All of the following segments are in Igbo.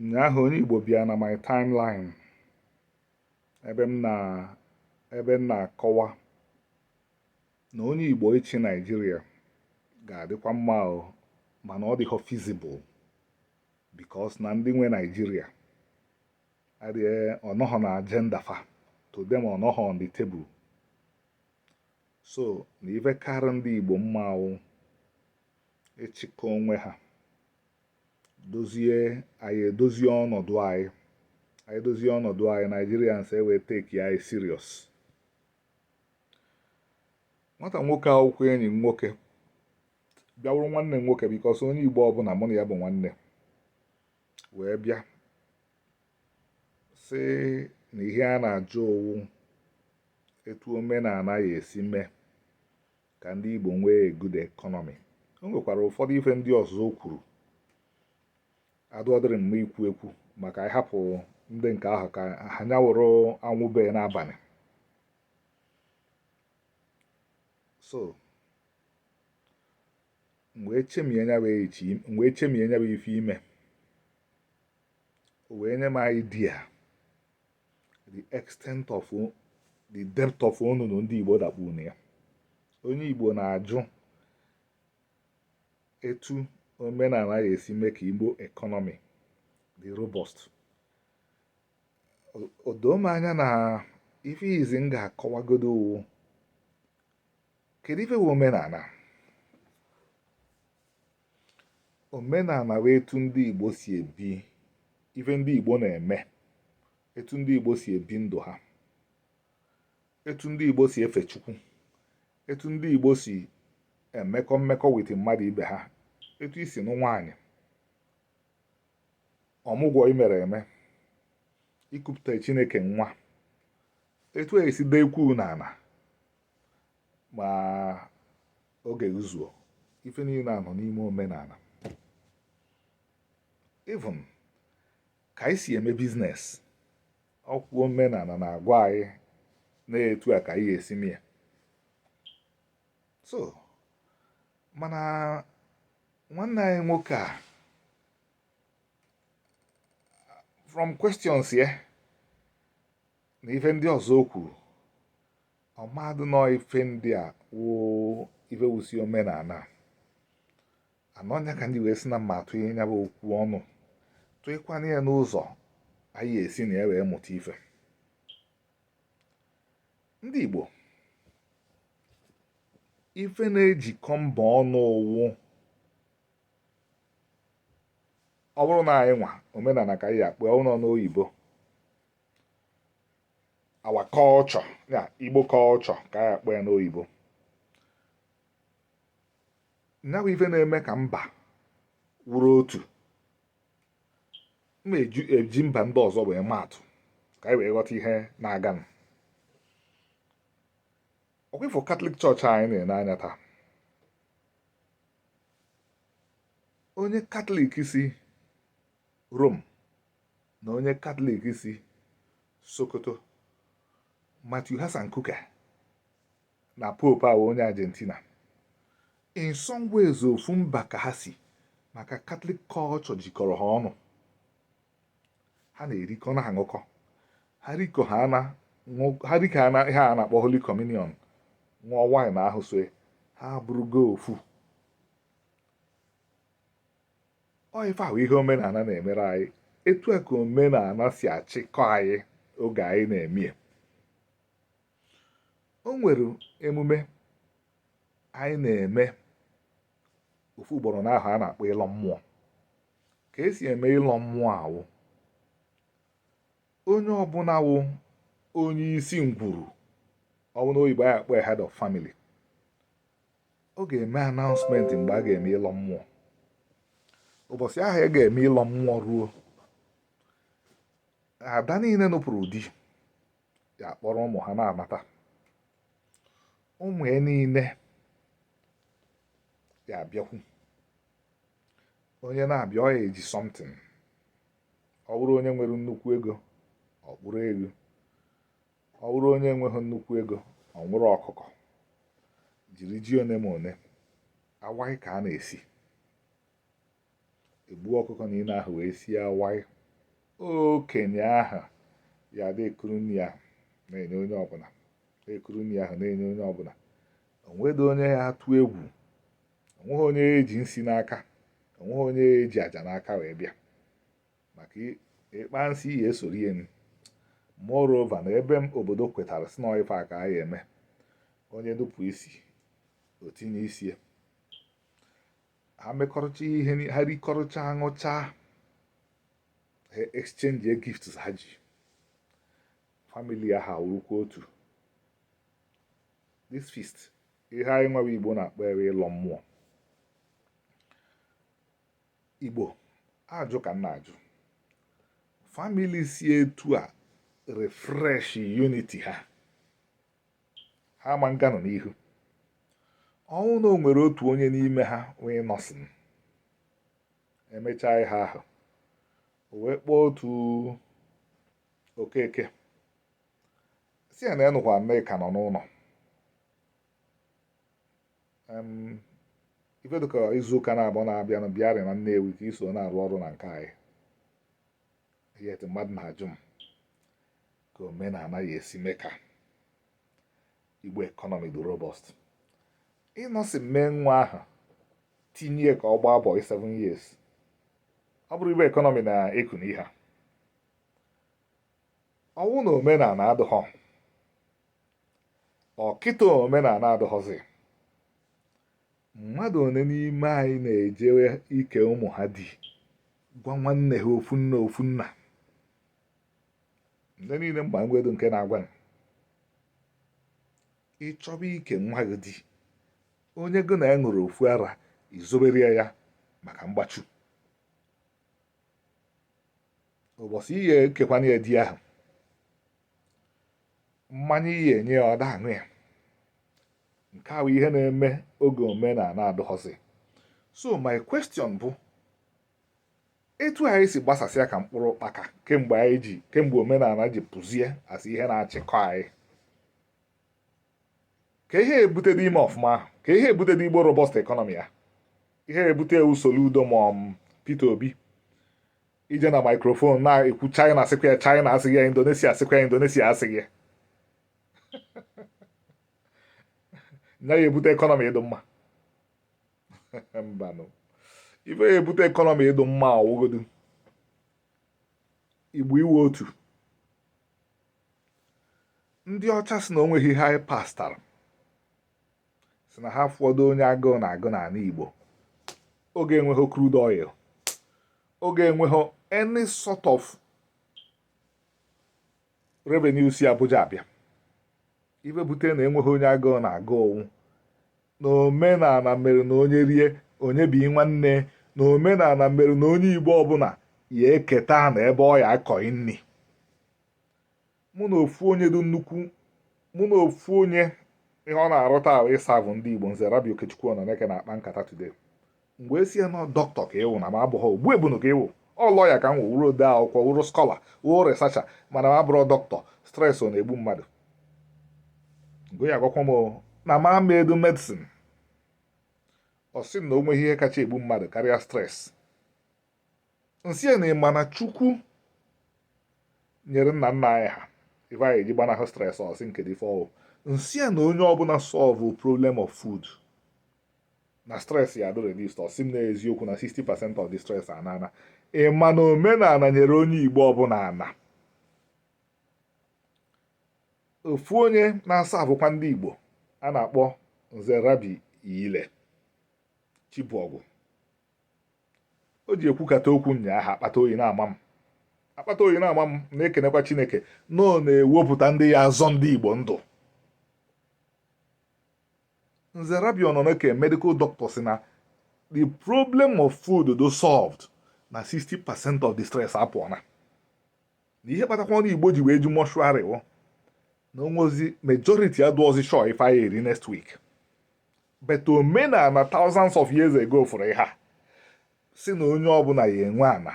ụnyaahụ onye Igbo bịa na my timeline ebe m na ebe m na-akọwa na onye Igbo ịchị Naijiria ga-adịkwa mma o mana ọ dịghọ feasible because na ndị nwe Naijiria adịghị ọ nọghọ na agenda fa to them ọ nọghọ on the table so na ife karị ndị Igbo mma wụ ịchịkọ onwe ha dozie anyị edozie ọnọdụ anyị anyị dozie ọnọdụ anyị Nigerians ewee take anyị serious nwata nwoke a wụkwa enyi m nwoke bịa wụrụ nwanne m nwoke because onye Igbo ọbụla mụ na ya bụ nwanne wee bịa sị na ihe ọ na-ajụ ọ wụ etu omenala ya-esi mee ka ndị Igbo nwee good economy o nwekwara ụfọdụ ife ndị ọzọ o kwuru adụọdịrị mma ikwu ekwu ma ka anyị hapụ ndị nke ahụ ka ha nya wụrụ anwụ bee n'abalị so m wee chemie nya bụ echi m wee chemie nya bụ ife ime o wee nye m idea the extent of the depth of onunu ndị Igbo dakpu na ya onye Igbo na-ajụ etu omenala ya-esi mee ka Igbo economy dị robust o doo m anya na ife izi m ga-akọwagodo wụ kedu ife bụ omenala omenala bụ etu ndị Igbo si ebi ife ndị Igbo na-eme etu ndị Igbo si ebi ndụ ha etu ndị Igbo si efe Chukwu etu ndị Igbo si emekọ mmekọ with mmadụ ibe ha etu e si anụ nwaanyị ọmụgwọ imere eme ikupụta Chineke nwa etu a ya-esi dee kwuu n'ala ma oge zuo ife niile a nọ n'ime omenala even ka anyị si eme business ọ ka wụ omenala na-agwa anyị na etu a ka anyị ya-esi mie so mana nwanne anyị nwoke a from questions ya na ife ndị ọzọ o kwuru ọ madụ na ife ndị a wụ ife wusi omenala and ọ nya ka m ji wee sị na mma atụ ihe nya bụ okwu ọnụ tụịkwa nya n'ụzọ anyị esi na ya wee mụta ife ndị Igbo ife na-ejikọ mba ọnụ wụ ọ bụrụ na anyị nwa omenala ka anyị akpọ ọnụ n'oyibo our culture ya igbo culture ka anyị akpọ ya n'oyibo ya bụ ife na-eme ka mba wụrụ otu m eji mba ndị ọzọ wee maa atụ ka anyị wee ghọta ihe na-aganụ ọkwa ị fụ catholic church anyị na-ene anya taa onye catholic si rome na onye catholic si sokoto matthew hassan kukah na pope ahụ onye argentina in some ways ofu mba ka ha si maka catholic culture jikọrọ ha ọnụ ha na-erikọ na-aṅụkọ ha rikọ ihe a na-akpọ holy communion ṅụọ wine ahụ so ha abụrụgo ofu ọ ife a wụ ihe omenala na-emere anyị etu a ka omenala si achịkọ anyị oge anyị na-eme o nwere emume anyị na-eme ofu ugboro n'ahọ a na-akpọ ịlọ mmụọ ka e si eme ịlọ mmụọ a wụ onye ọbụla wụ onye isi ngwuru ọbụla oyibo anyị akpọ head of family ọ ga-eme announcement mgbe a ga-eme ịlọ mmụọ ụbọchị ahụ a ga-eme ịlọ mmụọ ruo ada niile nụpụrụ di ya akpọrọ ụmụ ha na-anata ụmụ ya niile ya abịakwu onye na-abịa ọ ya eji something ọ bụrụ onye nwere nnukwu ego ọ kpụrụ eghu ọ bụrụ onye enweghị nnukwu ego ọ nwụrụ ọkụkọ jiri ji one ma one awaị ka a na-esi e gbuo ọkụkọ niile ahụ wee sie awaị okenye ahụ ya dị ekuru nri ya na-enye onye ọbụla ekuru nri ahụ na-enye onye ọbụla o nwedọ onye ya atụ egwu o nweghị onye ji nsi n'aka o nweghị onye ji aja n'aka wee bịa maka ịkpa nsị ihe esoro ihe ni moreover na ebe m obodo kwetara si na ife a ka a ya-eme onye nupụ isi o tinye isi ya ha mekọrọcha ihe ha rikọrọcha aṅụcha ha exchange gifts ha ji family ahụ wụrụkwa otu this feast ihe anyị Nnewi igbo na-akpọ ya wụ ịlọ mmụọ Igbo ajụ ka nna ajụ family si etu a refresh unity ha ha ma nga nọ n'ihu ọ wụ na o nwere otu onye n'ime ha wee nọsịa emechaa ihe ahụ o wee kpọọ otu Okeke si ya na ya nụkwa Nneka nọ n'ụlọ ife dịka izu ụka naabọ na-abịanụ bịarị na Nnewi ka i so na-arụ ọrụ na nke anyị yet mmadụ na-ajụ m ka omenala ya-esi mee ka Igbo economy dị robust ị nọsịa mee nwa ahụ tinye ya ka ọ gbaa bọị 7 years ọ bụrụ Igbo economy na-eku n'ihe ọ wụ na omenala adịghọ ọ kịta omenala adụghọzi mmadụ one n'ime anyị na-ejewe ike ụmụ ha di gwa nwanne ha ofu nna ofu nna ndị niile m ma e nwedụ nke na-agwa ị chọba ike nwa gị di onye gị na ya ṅụrụ ofu ara i zobere ya ya maka mgbachu ụbọchị ị ya-ekekwanụ ya di ahụ mmanya ị ya-enye ya ọ da aṅụ ya nke a wụ ihe na-eme oge omenala adụghọzi so my question bụ etu anyị si gbasasịa ka mkpụrụ ụkpaka kemgbe anyị ji kemgbe omenala ji pụzie a sị ihe na-achịkọ anyị ka ihe ebutedụ ime ọfụma ahụ ka ihe ebutedụ Igbo robust economy ya ihe ebute usoro udo ma um, Peter Obi ije na microphone na-ekwu china asịkwa ya china asịghị ya indonesia asịkwa ya indonesia asịghị ya nya ya-ebute economy ịdụ mma mbanụ ife ya-ebute economy ịdụ mma ọ wụgodu Igbo ịwụ otu ndị ọcha si na o nweghị ihe anyị pastara si na ha afụdụ onye agụụ na-agụ n'ana Igbo oge enweghị crude oil oge enweghị any sort of revenue si Abuja abịa ife bute na enweghị onye agụụ na-agụ ọ wụ na omenana mere na onye rie o nyebi nwanne na omenana mere na onye Igbo ọbụna ya eketa ana ebe ọ ya akọ nni mụ na ofu onye dị nnukwu mụ na ofu onye ihe ọ na-arụta wụ ịserve ndị Igbo nze Rabbi Okechukwu Ọnọnaeke na-akpa nkata today m wee sị ya na doctor ka ị wụ na m abụghị ogbu ebunu ka ị wụ ọ lawyer ka m wụ wụrụ ode akwụkwọ wụrụ scholar wụrụ researcher mana m abụrọ doctor stress ọ na-egbu mmadụ mgbe ya agwakwa m na m emedu medicine ọ sị na o nweghị ihe kacha egbu mmadụ karịa stress m sị ya na ị ma na chukwu nyere nna nna anyị ha ife a ya eji gbanahụ stress ọ sị m kedụ ife ọ wụ m sị ya na onye ọbụna solve problem of food na stress ya adụ reduced ọ sị m n'eziokwu na 60 percent of the stress anaana ị ma na omenana nyere onye igbo ọbụna ana ofu onye na-aservekwa ndị igbo a na-akpọ nze rabbi ile chibọgwụ o ji ekwukata okwu nyaa ha akpata oyi na-ama m akpata oyi na-ama m na-ekenekwa Chineke na ọ na-ewepụta ndị ya azọ ndị Igbo ndụ Nze Rabbi Ọnọnaeke medical doctor sị na the problem of food dụ solved na 60 percent of the stress apụọ na ihe kpatakwanụ Igbo ji wee ju mortuary wụ na o nwezi majority adụọzi sure ife a ya eri next week but omenana thousands of years ago fụrụ ihe a sị na onye ọbụna ya enwe ana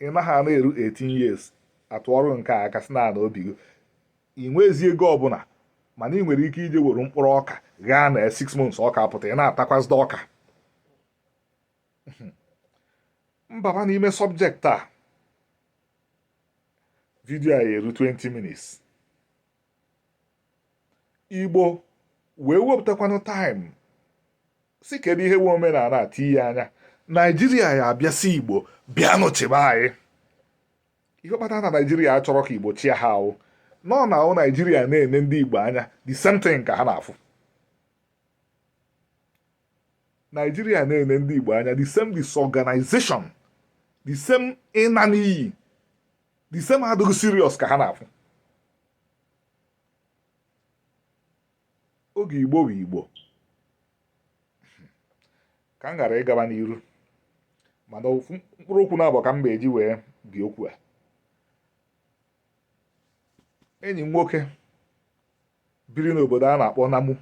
ị naghị ana eru 18 years atụọrụ nke aka si na ana obi gị ị nwezi ego ọbụna mana ị nwere ike ije were mkpụrụ ọka ghaa na 6 months ọka apụta ị na-atakwazide ọka m baba n'ime subject a video a ya eru 20 minutes igbo wee wepụtakwanụ time sị kedu ihe wụ omenana a tinye anya naijiria ya abịa sị igbo bịanụ chịba anyị ihe kpata na naijiria achọrọ ka igbo chịa ha wụnụ na wụ naijiria na-ene ndị igbo anya the same thing ka ha na-afụ naijiria na-ene ndị igbo anya the same disorganization the same ịna n'iyi the same adịghị serious ka ha na-afụ oge igbo wụ igbo ka m ghara ịgaba n'iru mana mkpụrụ okwu naabọ ka m ga-eji wee bi okwu a enyi m nwoke biri n'obodo a na-akpọ Namu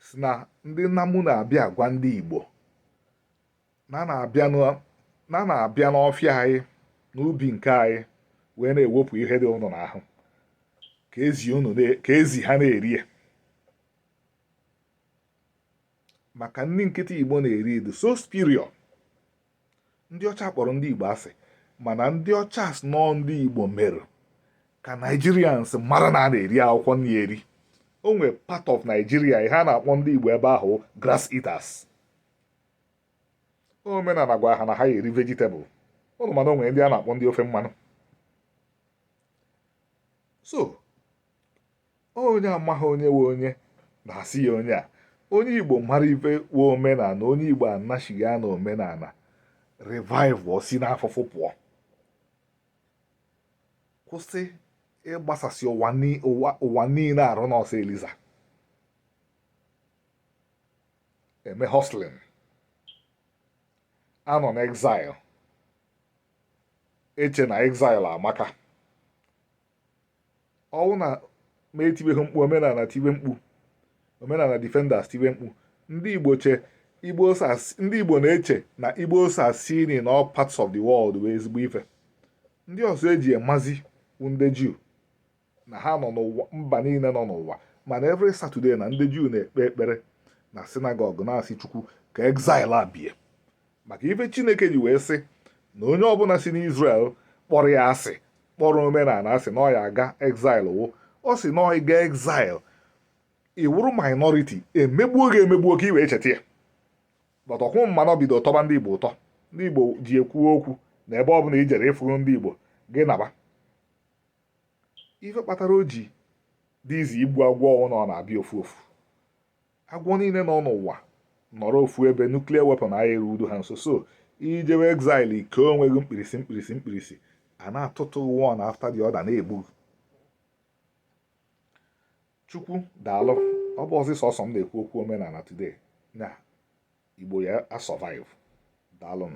sị na ndị Namu na-abịa agwa ndị Igbo na a na-abịa n'ọfịa anyị n'ubi nke anyị wee na-ewepụ ihe dị ụnụ n'ahụ ka ezi ha na-eri ya maka ndị nkịtị igbo na-eri dị so superior ndị ọcha kpọrọ ndị igbo asị mana ndị ọcha sị na ọ ndị igbo mere ka Nigerians mara na a na-eri akwụkwọ nri eri o nwere part of Nigeria ha na-akpọ ndị igbo ebe ahụ grass eaters omenana gwara ha na ha ya-eri vegetable ụnụ ma na o nwere ndị a na-akpọ ndị ofe mmanụ so onye amaghị onye wụ onye na-asị ya onye a onye igbo mara ife wụ omenana onye igbo anachigha na omenana revive si n'afụfụ pụọ kwụsị ịgbasasị ụwa niile arụ n'ọsọ eliza eme hustling anọ na exile eche na exile amaka ọ wụ na mụ etibeghị mkpu omenana tiwe mkpu omenana defenders tiwe mkpu ndị igbo na-eche na ịgbasasị in all parts of the world wụ ezigbo ife ndị ọzọ e ji ya mazi wụ ndị juu na ha nọ n'ụwa mba niile nọ n'ụwa mana every Saturday na ndị Juu na-ekpe ekpere na sinagọg na-asị Chukwu ka exile a bie maka ife Chineke ji wee sị na onye ọbụna si n'Israel kpọrọ ya asị kpọrọ omenana asị na ọ ya-aga exile wụ ọ sị na ị gaa exile ị wụrụ minority emegbuo gị emegbuo ka i wee cheta ya but ọkwụ mmanụ bido tọba ndị Igbo ụtọ ndị Igbo ji ekwu okwu na ebe ọ bụla i jere ị fụrọ ndị Igbo gị naba ife kpatara o ji dị easy igbu agwọ wụ na ọ na-abịa ofu ofu agwọ niile nọ n'ụwa nọrọ ofu ebe nuclear weapon agaghị erudo ha nso so i jewe exile i kee onwe gị mkpirisi mkpirisi mkpirisi a na-atụtụ gị one after the other na-egbu gị chukwu daalụ ọ bụzirọ sọsọ m na-ekwu okwu omenana today na igbo ya a survive daalụ m